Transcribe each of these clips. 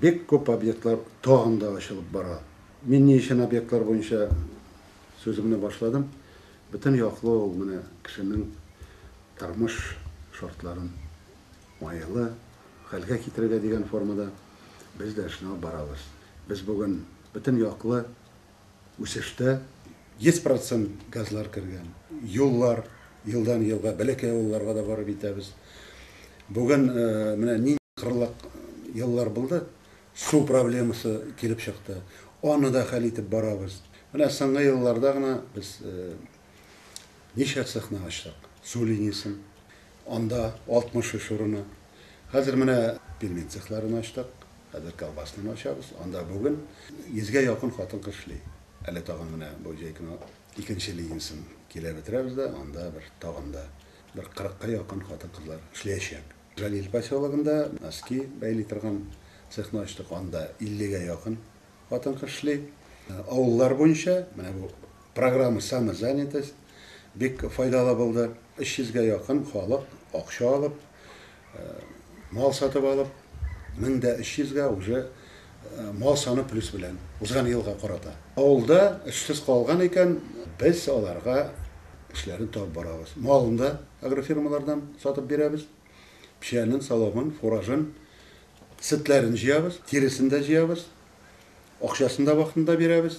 Бик күп объектлар тагын да ачылып бара. Мин ни өчен объектлар буенча сүземне башладым? Бөтен яклы ул менә кешенең тормыш шартларын уңайлы хәлгә китерергә дигән формада без дә эшне алып барабыз. Без бүген бөтен яклы үсештә. 100 процент газлар кергән. Юллар, елдан-елга бәләкәй авылларга да барып итәбез. Бүген менә нинди кырлак еллар булды, су проблемасы килеп чыкты. Аны да хәл итеп барабыз. Менә соңгы елларда гына без ничә цехны ачтык, су линиясен. Анда 63 урыны. Хәзер менә пельмен цехларын ачтык. Хәзер колбаснаны ачабыз. Анда бүген 100 гә якын хатын-кыз эшли. Әле тагын менә бу җәй көне икенче линиясен килә бетерәбез дә, анда бер тагын да бер 40 ка якын хатын-кызлар эшләячәк. Җәлил поселогында носки бәйли торган цехны ачтык. Анда 50 гә якын хатын-кыз эшли. Авыллар буенча менә бу Программа Самозанятость бик файдалы булды. 300 гә якын халык акча алып, мал сатып алып, 1300 гә уже мал саны плюс белән, узган елга карата. Авылда эшсез калган икән, без аларга эшләрен табып барабыз. Малын да агрофирмалардан сатып бирәбез. Печәнен, соломын, фуражын, сөтләрен җыябыз, тиресен дә җыябыз, акчасын да вакытында бирәбез.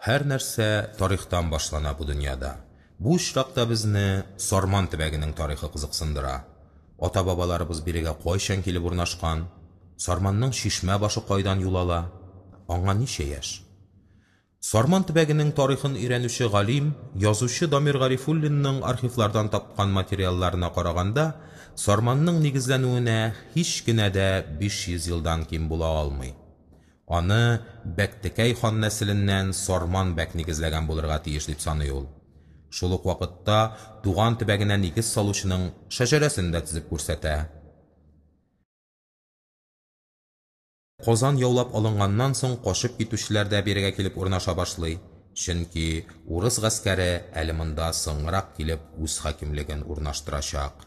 Һәр нәрсә тарихтан башлана бу дөньяда. Бу очракта безне Сарман төбәгенең тарихы кызыксындыра. Ата-бабаларыбыз бирегә кайчан килеп урнашкан? Сарманның чишмә башы кайдан юл ала? Аңа ничә яшь? Сарман төбәгенең тарихын өйрәнүче галим, язучы Дамир Гарифуллинның архивлардан тапкан материалларына караганда, Сарманның нигезләнүенә һич кенә дә 500 елдан ким була алмый. Аны Бәктекәй хан нәселеннән Сарман бәк нигезләгән булырга тиеш, дип саный ул. Шул ук вакытта туган төбәгенә нигез салучының шәҗәрәсен дә тезеп күрсәтә. Казан яулап алынганнан соң качып китүчеләр дә бирегә килеп урнаша башлый, чөнки урыс гаскәре әле монда соңрак килеп үз хакимлеген урнаштырачак.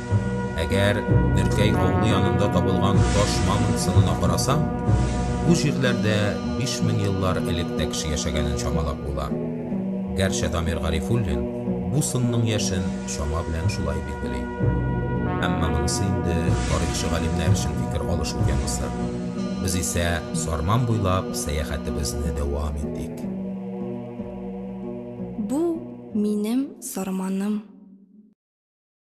Әгәр Нөркәй авылы янында табылган таш мамонт сынына карасаң, бу җирләрдә 5000 еллар элек тә кеше яшәгәнен чамалап була. Гәрчә Дамир Гарифуллин бу сынның яшен чама белән шулай билгели. Әмма монысы инде тарихчы-галимнәр өчен фикер алышу темасы. Без исә Сарман буйлап сәяхәтебезне дәвам итик. Бу, минем Сарманым.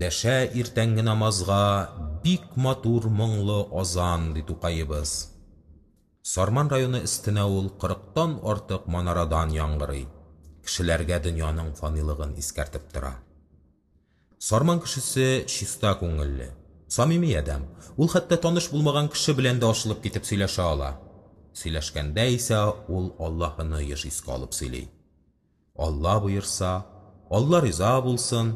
Дәшә иртәнге намазга бик матур моңлы азан, ди Тукаебыз. Сарман районы өстенә ул 40тан артык манарадан яңгырый, кешеләргә дөньяның фанилыгын искәртеп тора. Сарман кешесе чиста күңелле, самими адәм. Ул хәтта таныш булмаган кеше белән дә ачылып китеп сөйләшә ала. Сөйләшкәндә исә ул Аллаһыны еш искә алып сөйли. Алла боерса, Алла риза булсын.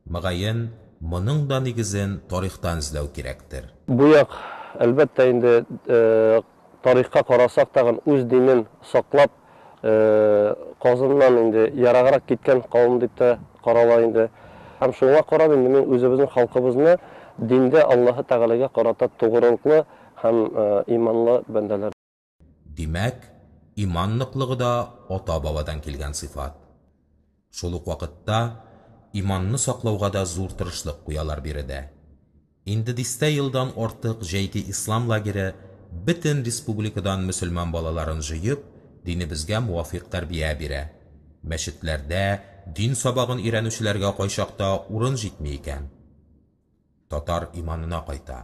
Мөгаен, моның да нигезен тарихтан эзләү кирәктер. Бу як, әлбәттә инде, Тарихка карасак тагын үз динен саклап казыннан инде ераграк киткән кавым дип тә карала инде. Һәм шуңа карап инде мин үзебезнең халкыбызны диндә Аллаһы Тәгаләгә карата тугрылыклы һәм иманлы бәндәләр. Димәк, иман ныклыгы да ата-бабадан килгән сыйфат. Шул ук вакытта иманны саклауга да зур тырышлык куялар биредә. Инде дистә елдан артык Җәйге ислам лагере бөтен республикадан мөселман балаларын җыеп, динебезгә муафикъ тәрбия бирә. Мәчетләрдә дин сабагын өйрәнүчеләргә кайчакта урын җитми икән, татар иманына кайта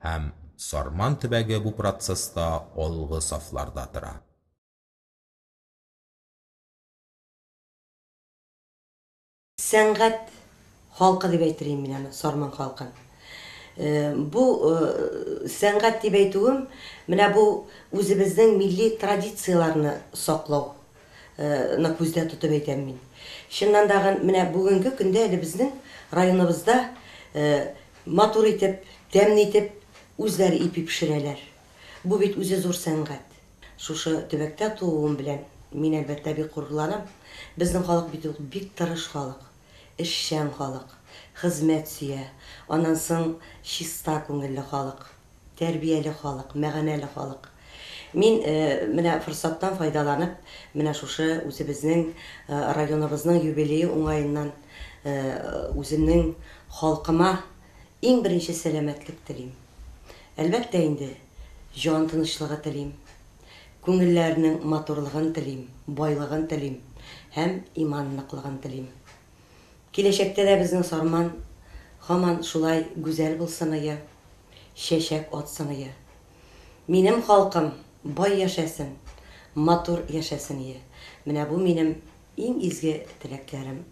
һәм Сарман төбәге бу процесста алгы сафларда тора. Сәнгать халкы дип әйтер идем мин аны, Сарман халкын. Бу сәнгать дип әйтүем, менә бу үзебезнең милли традицияләрне саклау ны күздә тотып әйтәм мин. Чыннан да гын, менә бүгенге көндә әле безнең районыбызда матур итеп, тәмле итеп үзләре ипи пешерәләр. Бу бит үзе зур сәнгать. Шушы төбәктә тууым белән мин, әлбәттә, бик горурланам. Безнең халык бит ул бик тырыш халык, эшчән халык, хезмәт сөя, аннан соң чиста күңелле халык, тәрбияле халык, мәгънәле халык. Мин менә форсаттан файдаланып, менә шушы үзебезнең районыбызның юбилее уңаеннан үземнең халкыма иң беренче сәламәтлек телим. Әлбәттә инде, Җан тынычлыгы телим. Күңелләрнең матурлыгын телим, байлыгын телим һәм иман ныклыгын телим. Киләчәктә дә безнең Сарман һаман шулай гүзәл булсыныя, чәчәк атсыныя. Минем халкым бай яшәсен, матур яшәсение. Менә бу минем иң изге теләкләрем.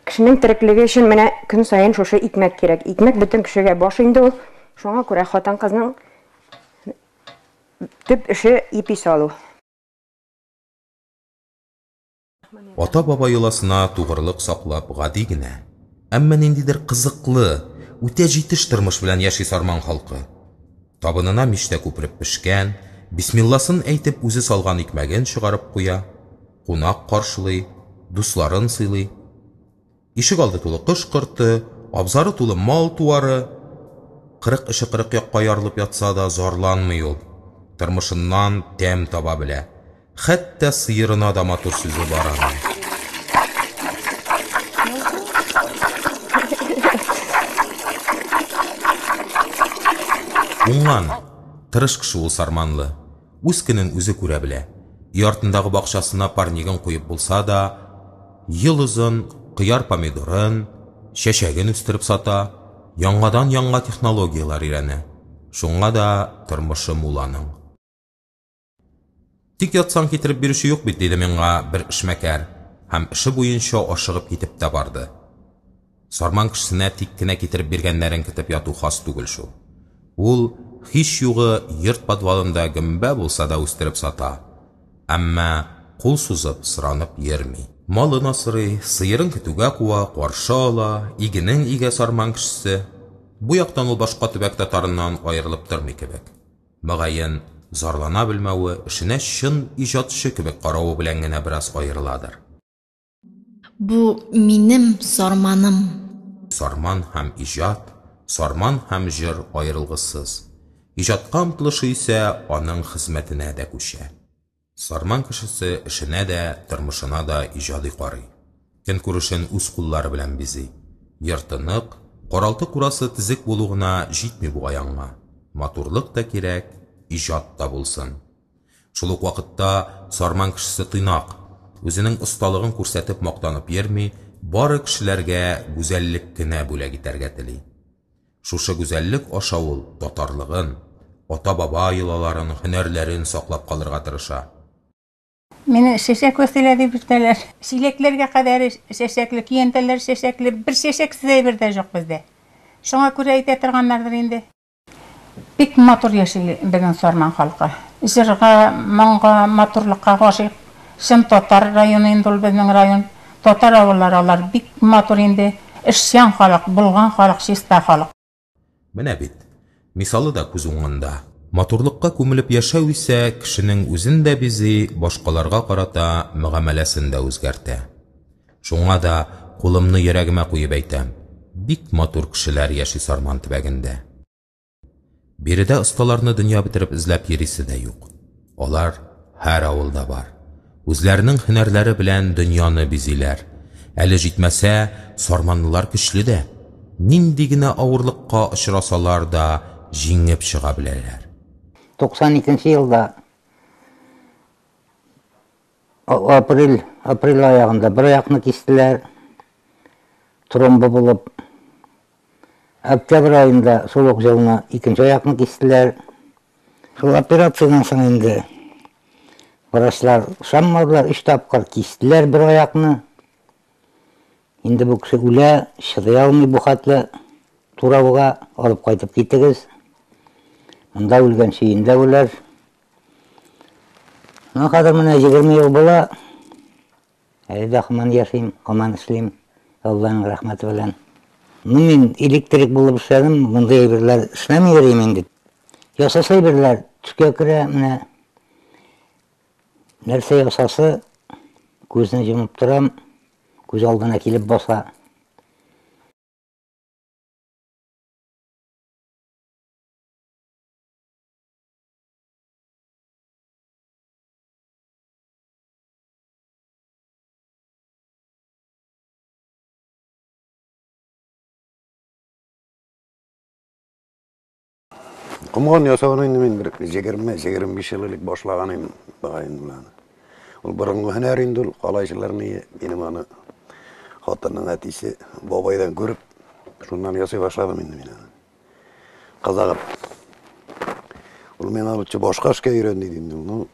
Кешенең тереклеге өчен менә көн саен шушы икмәк кирәк. Икмәк бөтен кешегә баш инде ул. Шуңа күрә хатын-кызның төп эше ипи салу. Ата-баба йоласына тугрылык саклап гади генә, әмма ниндидер кызыклы, үтә җитеш тормыш белән яши Сарман халкы. Табынына мичтә күпереп пешкән, бисмилласын әйтеп үзе салган икмәген чыгарып куя. кунак каршылый, дусларын сыйлый. Ишегалды тулы кош-корты, абзары тулы мал-туары. Кырык эше кырык якка ярылып ятса да, зарланмый ул. Тормышыннан тәм таба белә. Хәтта сыерына да матур сүзе бар аның. Уңган, тырыш кеше ул Сарманлы. Үз көнен үзе күрә белә. Өй артындагы бакчасына парнигын куеп булса да, ел озын кыяр-помидорын, чәчәген үстереп сата, яңадан-яңа технологияләр өйрәнә. Шуңа да тормышы мул аның. Тик ятсаң китереп бирүче юк бит, диде миңа бер эшмәкәр һәм эше буенча ашыгып китеп тә барды. Сарман кешесенә тик кенә китереп биргәннәрен көтеп яту хас түгел шул. Ул, һич югы, йорт подвалында гөмбә булса да үстереп сата. Әмма кул сузып, соранып йөрми. Малын асрый, сыерын көтүгә куа, каршы ала, игенен игә сарман кешесе. Бу яктан ул башка төбәк татарыннан аерылып тормый кебек. Мөгаен, зарлана белмәве, эшенә чын иҗатчы кебек каравы белән генә бераз аерыладыр. Бу минем сарманым. Сарман һәм иҗат, сарман һәм җыр аерылгысыз. Иҗатка омтылышы исә аның хезмәтенә дә күчә. Сарман кешесе эшенә дә, тормышына да иҗади карый. Көнкүрешен үз куллары белән бизи. Ертык, каралты-курасы тезек булу гына җитми бугай аңа. Матурлык та кирәк, иҗат та булсын. Шул ук вакытта Сарман кешесе тыйнак, үзенең осталыгын күрсәтеп мактанып йөрми, бары кешеләргә гүзәллек кенә бүләк итәргә тели. Шушы гүзәллек аша ул татарлыгын, ата-баба йолаларын, һөнәрләрен саклап калырга тырыша. Мине чәчәк Вәсилә дип йөртәләр. Чиләкләргә кадәр чәчәкле, көянтәләр чәчәкле, бер чәчәксез әйбер дә җук бездә. Шуңа күрә әйтә торганнардыр инде. Бик матур яши безнең Сарман халкы. Җырга, моңга, матурлыкка гашыйк. Чын татар районы инде ул безнең район. Татар авыллары алар бик матур инде. Эшчән халык, булган халык, чиста халык. Менә бит, мисалы да күз уңында. Матурлыкка күмелеп яшәү исә кешенең үзен дә бизи, башкаларга карата мөгамәләсен дә үзгәртә. Шуңа да кулымны йөрәгемә куеп әйтәм, бик матур кешеләр яши Сарман төбәгендә. Биредә осталарны дөнья бетереп эзләп йөрисе дә юк. Алар һәр авылда бар. Үзләренең һөнәрләре белән дөньяны бизиләр. Әле җитмәсә, сарманлылар көчле дә. Нинди генә авырлыкка очрасалар да, җиңеп чыга беләләр. 92 нче елда Апрель, апрель аягында бер аякны кистеләр, тромбы булып. Октябрь аенда шул ук җылны икенче аякны кистеләр. Шул операциядән соң инде врачлар ышанмадылар, өч тапкыр кистеләр бер аякны. Инде бу кеше үлә, чыдый алмый бу хәтле турауга, алып кайтып китегез. Монда үлгән чөендә үләр. Мына хәзер менә 20 ел була. Әле дә хаман яшим, хаман эшлим. Алланың рәхмәте белән. Ну мин электрик булып эшләдем, мондый әйберләр эшләми йөрим инде. Ясаса әйберләр төскә керә, менә нәрсә ясасы күзне җомып торам, күз алдына килеп баса. Комган ясаган инде мин бер 20-25 ел элек башлаган идем багын белән. Ул борынгы һөнәр инде ул калайчыларны минем аны хатынның әтисе бабайдан күреп шуннан ясый башладым инде мин аны. Казагым. Ул мен алучы башка эшкә өйрән диде инде. Ну,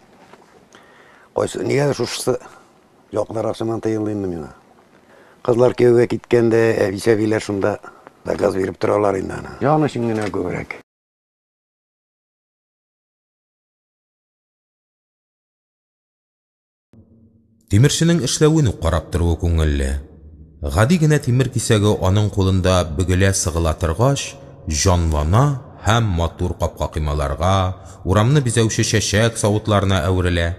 кайсы, нигә шушысы якларак сыман тыелды инде миңа. Кызлар кияүгә киткәндә, әбисәбиләр шунда заказ биреп торалар инде аны. Ян өчен генә күбрәк. Тимерченең эшләвен үк карап торуы күңелле. Гади генә тимер кисәге аның кулында бөгелә-сыгыла торгач, җанлана һәм матур капка-коймаларга, урамны бизәүче чәчәк савытларына әверелә.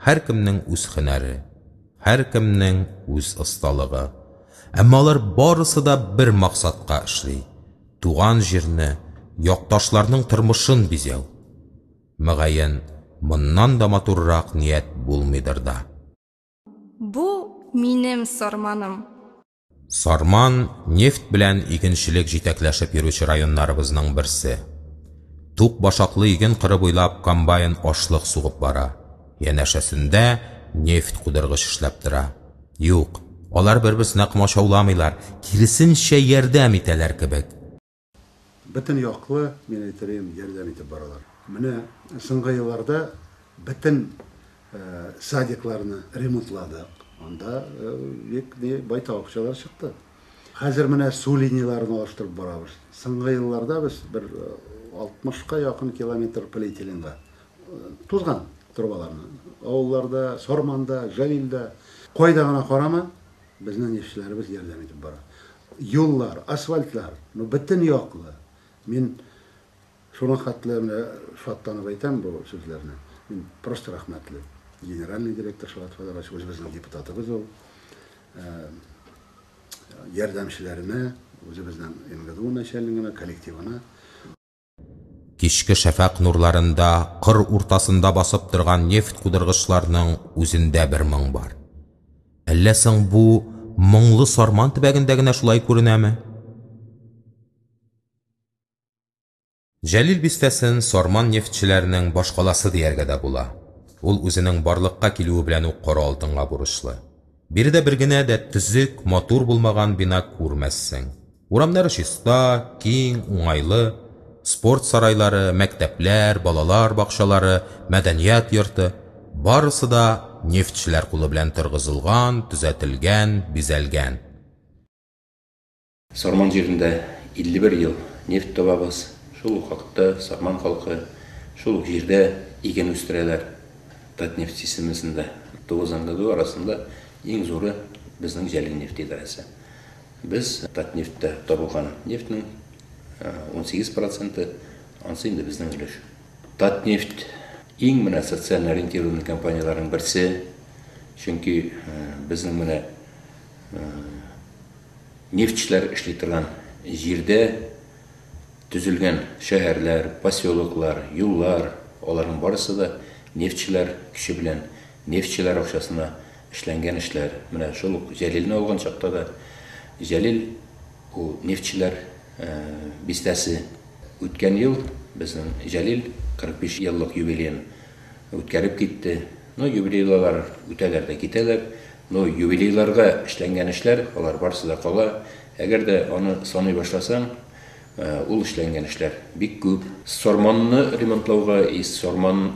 Һәркемнең үз һөнәре, һәркемнең үз осталыгы. Әмма алар барысы да бер максатка эшли, туган җирне, якташларның тормышын бизәү. Мөгаен, моннан да матуррак ният булмыйдыр да. Бу, минем Сарманым. Сарман, нефть белән игенчелек җитәкләшеп йөрүче районнарыбызның берсе. Тук башаклы иген кыры буйлап комбайн ашлык сугып бара, янәшәсендә нефть кудыргыч эшләп тора. Юк, алар бер-берсенә комачауламыйлар, киресенчә, ярдәм итәләр кебек. Бөтен яклы, мин әйтерием, ярдәм итеп баралар. Менә соңгы елларда бөтен садикларны ремонтладык. Анда бик байтак акчалар чыкты. Хәзер менә су линияләрен алыштырып барабыз. Соңгы елларда без бер 60-ка якын километр полиэтиленга тузган трубаларны авылларда, Сарманда, Җәлилдә, кайда гына карама, Безнең эшчеләребез ярдәм итеп бара. Юллар, асфальтлар, ну, бөтен яклы. Мин шуңа хәтле менә шатланып әйтәм бу сүзләрне. Мин просто рәхмәтле. Генеральный директор Шават Фәләгович, үзебезнең депутатыбыз ул. Ярдәмчеләренә, үзебезнең МГДУ начальнигына, коллективына. Кичке шәфәкъ нурларында кыр уртасында басып торган нефть кудыргычларның үзендә бер моң бар. Әллә соң бу моңлы Сарман төбәгендә генә шулай күренәме? Җәлил бистәсен Сарман нефтьчеләренең башкаласы дияргә дә була. Ул үзенең барлыкка килүе белән үк кара алтынга бурычлы. Биредә бер генә дә төзек, матур булмаган бина күрмәссең. Урамнары чиста, киң, уңайлы. Спорт сарайлары, мәктәпләр, балалар бакчалары, мәдәният йорты, барысы да нефтьчеләр кулы белән торгызылган, төзәтелгән, бизәлгән. Сарман җирендә 51 ел нефть табабыз, шул ук вакытта сарман халкы шул ук җирдә иген үстерәләр. Татнефть системасында Тугызангадуй арасында иң зуры безнең Җәлилнефть идарәсе. Без Татнефтьтә табылган нефтьнең 18 проценты, ансы инде безнең өлеш. Татнефть иң менә социаль ориентированный компанияләрнең берсе, чөнки безнең менә Нефтьчеләр эшли торган җирдә төзелгән шәһәрләр, поселоклар, юллар, аларның барысы да нефтьчеләр көче белән, нефтьчеләр акчасына эшләнгән эшләр. Менә шул ук Җәлилне алган чакта да, Җәлил ул нефтьчеләр бистәсе. Үткән ел безнең Җәлил 45 еллык юбилеен Үткәреп китте. Ну, юбилейлылар үтәләр дә китәләр. Ну, юбилейларга эшләнгән эшләр, алар барысы да кала. Әгәр дә аны саный башласаң, ул эшләнгән эшләр бик күп. Сарманны ремонтлауга и Сарман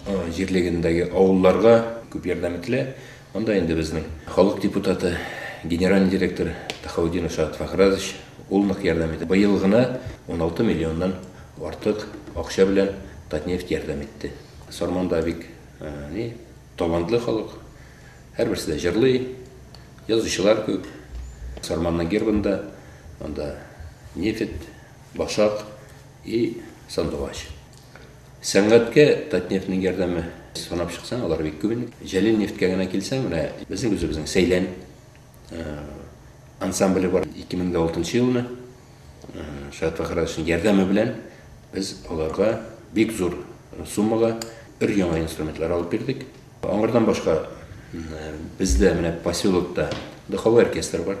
җирлегендәге авылларга күп ярдәм ителә. Монда инде безнең халык депутаты, генеральный директор Тахаутдинов Шәһат Фахразович, ул нык ярдәм итте. Быел гына 16 миллионнан артык акча белән Татнефть ярдәм итте. Сарманда бик ни талантлы халык, һәрберсе дә җырлый, язучылар күп. Сарманның гербында анда нефть, башак и сандугач. Сәнгатькә Татнефтьнең ярдәме, санап чыксаң, алар бик күп инде. Җәлил нефтькә генә килсәң, менә безнең үзебезнең Сәйлән э, ансамбле бар. 2006 елны э, Шаят Фәхрадовичның ярдәме белән без аларга бик зур суммага өр яңа инструментлар алып бирдек. Аңардан башка э, бездә менә поселокта духовой оркестр бар.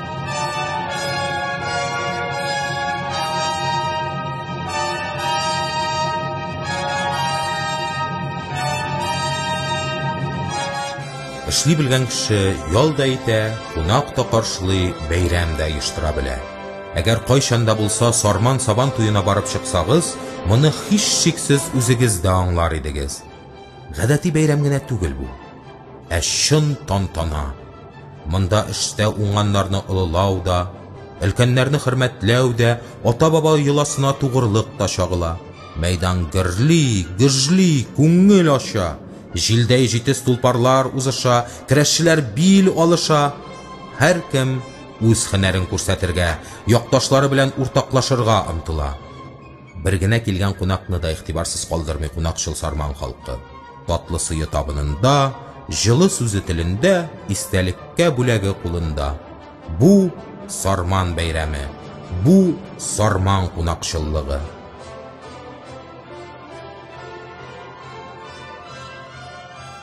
Эшли белгән кеше ял да итә, кунак та каршылый, бәйрәм дә оештыра белә. Әгәр кайчан да булса Сарман Сабан туена барып чыксагыз, моны һичшиксез үзегез дә аңлар идегез. Гадәти бәйрәм генә түгел бу, ә чын тантана. Монда эштә уңганнарны олылау да, өлкәннәрне хөрмәтләү дә, ата-баба йоласына тугырлык та чагыла. Мәйдан гөрли, гөжли, күңел ача. Җилдәй җитез тулпарлар узыша, керәшчеләр бил алыша. Һәркем үз һөнәрен күрсәтергә, якташлары белән уртаклашырга омтыла. Бер генә килгән кунакны да игътибарсыз калдырмый кунакчыл Сарман халкы. Татлы сые табынында, җылы сүзе телендә, истәлеккә бүләге кулында. Бу, Сарман бәйрәме. Бу, Сарман кунакчыллыгы.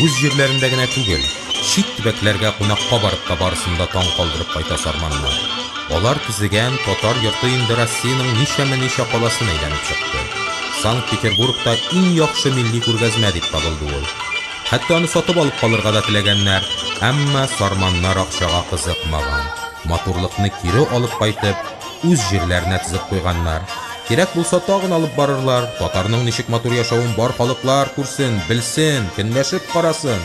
Үз җирләрендә генә түгел, чит төбәкләргә кунакка барып та барысын да таң калдырып кайта сарманнар. Алар төзегән татар йорты инде Россиянең ничәме-ничә каласын әйләнеп чыкты. Санкт-Петербургта иң яхшы милли күргәзмә дип табылды ул. Хәтта аны сатып алып калырга да теләгәннәр, әмма сарманнар акчага кызыкмаган, матурлыкны кире алып кайтып, үз җирләренә тезеп куйганнар. Кирәк булса, тагын алып барырлар, татарның ничек матур яшәвен бар халыклар күрсен, белсен, көнләшеп карасын!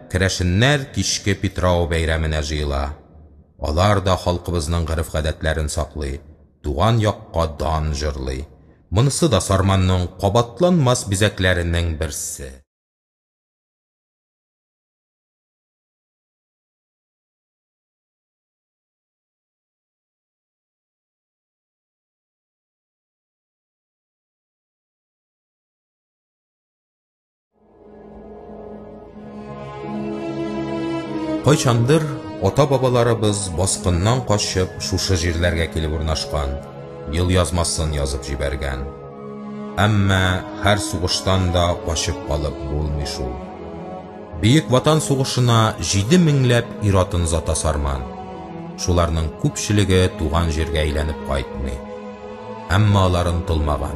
Керәшеннәр кичке Питрау бәйрәменә җыела. Алар да халкыбызның гореф-гадәтләрен саклый, туган якка дан җырлый. Монысы да Сарманның кабатланмас бизәкләренең берсе. Кайчандыр ата-бабаларыбыз баскыннан качып шушы җирләргә килеп урнашкан, ел язмасын язып җибәргән. Әмма һәр сугыштан да качып калып булмый шул. Бөек Ватан сугышына 7 меңләп ир-атын зата сарман. Шуларның күпчелеге туган җиргә әйләнеп кайтмый. Әмма аларын тылмаган.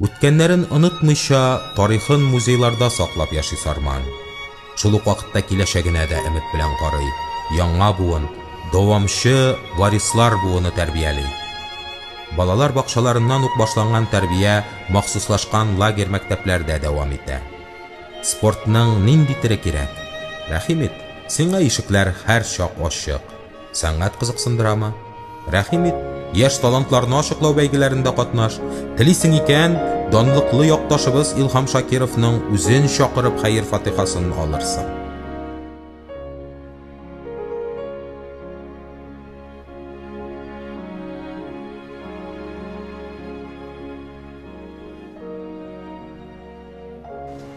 Үткәннәрен онытмыйча, тарихын музейларда саклап яши Сарман. Шул ук вакытта киләчәгенә дә өмет белән карый, яңа буын, дәвамчы варислар буыны тәрбияли. Балалар бакчаларыннан ук башланган тәрбия махсуслашкан лагерь-мәктәпләрдә дәвам итә. Спортның нинди төре кирәк? Рәхим ит, сиңа ишекләр һәрчак ачык. Сәнгать кызыксындырамы? Рәхим ит, яшь талантларны ачыклау бәйгеләрендә катнаш. Телисең икән, данлыклы якташыбыз Илһам Шакировның үзен чакырып хәер фатихасын алырсың.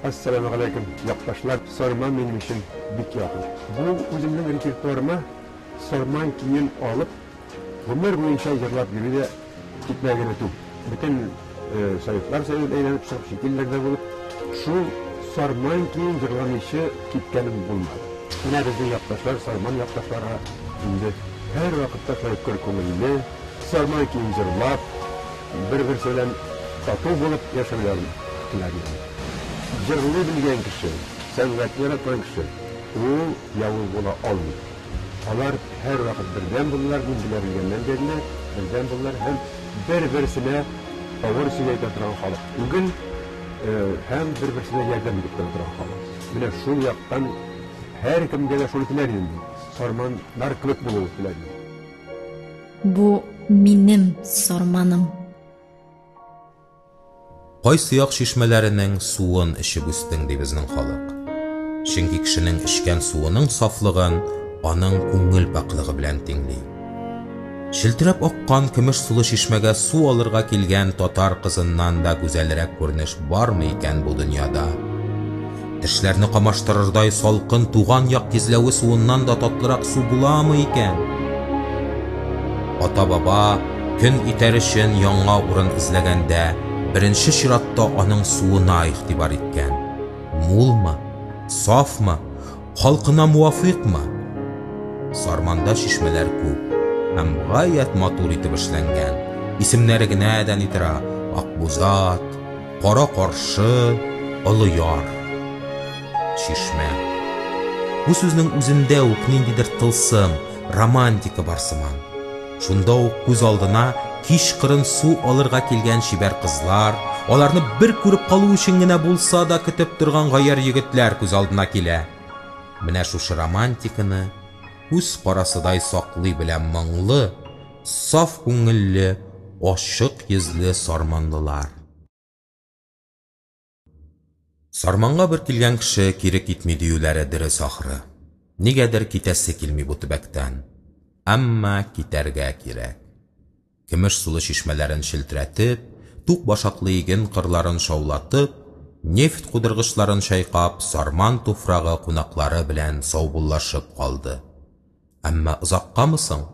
Әссәламегаләйкем, якташлар! Сарман минем өчен бик якын. Бу үземнең репертуарыма Сарман көен алып, гомер буенча җырлап йөрү дә китмә генә түг. Бөтен советлар Союзын әйләнеп чыгып, чит илләрдә булып, шул Сарман көен җырламыйчы киткәнем булмады. Менә безнең якташлар, Сарман якташлары инде һәрвакытта шулай көр күңелле, Сармай көен җырлап, бер-берсе белән тату булып яшәүләрен теләрләр. Җырлый белгән кеше, сәнгатьне яраткан кеше, ул явыз була алмый. Алар һәрвакыт бердәм булдылар, мин белә белгәннән бирле бердәм булдылар һәм бер-берсенә авыр сүз әйтә торган халык түгел, һәм бер-берсенә ярдәм итеп тора торган халык. Менә шул яктан һәркемгә дә шуны теләр идем мин, сарманнар кебек булу теләр идем. Бу минем сарманым. Кайсы як чишмәләренең суын эчеп үстең, ди безнең халык. Чөнки кешенең эчкән суының сафлыгын аның күңел пакьлыгы белән тиңли. Челтерәп аккан көмеш сулы чишмәгә су алырга килгән татар кызыннан да гүзәлрәк күренеш бармы икән бу дөньяда? Тешләрне камаштырырдай салкын туган як тизләве суыннан да татлырак су буламы икән? Ата-баба көн итәр өчен яңа урын эзләгәндә, беренче чиратта аның суына игътибар иткән. Мулмы? Сафмы? Халкына муафыйкмы? Сарманда чишмәләр күп һәм гаять матур итеп эшләнгән. Исемнәре генә дә ни тора, Акбузат, Кара каршы, олы яр. Чишмә. Бу сүзнең үзендә үк ниндидер тылсым, романтика бар сыман. Шунда ук күз алдына кичкырын су алырга килгән чибәр кызлар, аларны бер күреп калу өчен генә булса да көтеп торган гаярь егетләр күз алдына килә. Менә шушы романтиканы күз карасыдай саклый белә моңлы, Саф күңелле, ачык йөзле сарманлылар. Сарманга бер килгән кеше кире китми диюләре дөрес ахры. Нигәдер китәсе килми бу төбәктән. Әмма китәргә кирәк. Көмеш сулы чишмәләрен челтерәтеп, тук башаклы иген кырларын шаулатып, нефть кудыргычларын чайкап, сарман туфрагы кунаклары белән саубуллашып калды. Әмма озаккамы соң?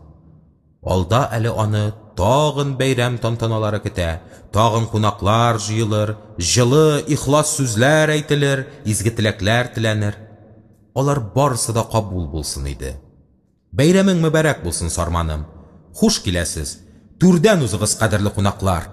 Алда әле аны тагын бәйрәм тантаналары көтә, тагын кунаклар җыелыр, җылы, ихлас сүзләр әйтелер, изге теләкләр теләнер. Алар барысы да кабул булсын иде. Бәйрәмең мөбарәк булсын, Сарманым! Хуш киләсез! Түрдән узыгыз, кадерле кунаклар!